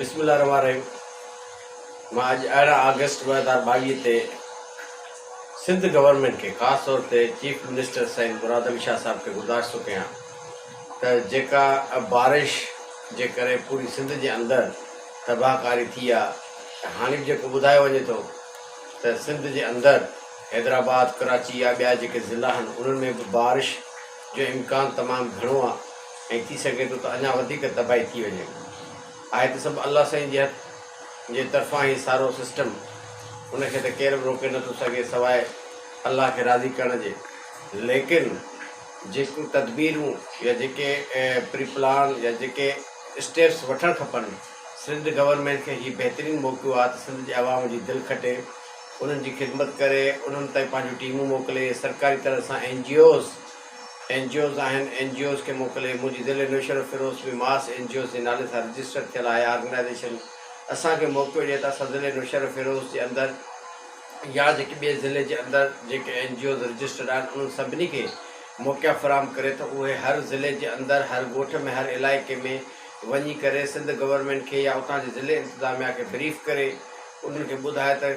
بسم الله الرحمٰن الرحيم مان اڄ ارڙهن آگسٽ ٻه هزار ٻاويهه تي سنڌ گورنمينٽ کي خاص طور تي چيف منسٽر سائين مراد علي شاهه صاحب کي گذارش ٿو ڪيان ته جيڪا بارش جي ڪري پوري سنڌ جي اندر تباهه ڪاري ٿي آهي هاڻي به جيڪو ٻڌايو وڃي ٿو ته سنڌ جي اندر حيدرآباد ڪراچي يا ٻيا جيڪي ضلعا آهن انهن ۾ به بارش جو امڪان تمام گهڻو آ ۽ ٿي سگهي ٿو ته اڃا وڌيڪ تباهي ٿي وڃي. آهي ته سڀ الله سائين جي هٿ جي طرفان هي سارو سسٽم. ان کي ته ڪير به روڪي نه ٿو سگهي سواء الله کي راضي ڪرڻ جي. ليڪن جيڪيون تدبيرون يا جيڪي پري پلان يا جيڪي اسٽيپس وٺڻ کپن. سنڌ گورنمينٽ کي هي بهترين موقعو آ ته سنڌ جي عوام جي دل کٽي. انهن جي خدمت ڪري، انهن تائين پنهنجون ٽيمون موڪلي، سرڪاري طرح سان N G Os, N G Os آهن، اين جي اوز کي موڪلي، منهنجي ضلعي Naushahro Feroze ۾ mass N G Os جي نالي سان رجسٽر ٿيل آهي آرگنائيزيشن اسان کي موقعو ڏئي ته اسان ضلعي نوشهروفيروز جي اندر يا جيڪي ٻئي ضلعي جي اندر جيڪي اين جي اوز رجسٽرڊ آهن انهن سڀني کي موقعا فراهم ڪري ته اهي هر ضلعي جي اندر هر ڳوٺ ۾ هر علائقي ۾ وڃي ڪري سنڌ گورنمينٽ کي يا اتان جي ضلعي انتظاميا کي بريف ڪري انهن کي ٻڌاء ته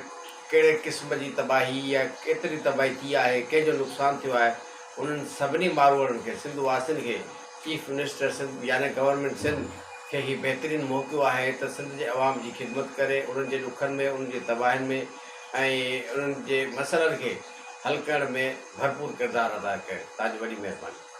ڪهڙي قسم جي تباهي يا ڪيتري تباهي ٿي آهي، ڪنهن جو نقصان ٿيو آهي، انهن سڀني ماروئڙن کي، سنڌ واسين کي چيف منسٽر سنڌ يعني گورنمينٽ سنڌ کي هي بهترين موقعو آهي ته سنڌ جي عوام جي خدمت ڪري انهن جي ڏکن ۾ انهن جي تباهين ۾ ۽ انهن جي مسئلن کي حل ڪرڻ ۾ ڀرپور ڪردار ادا ڪري تاجو وڏي مهرباني.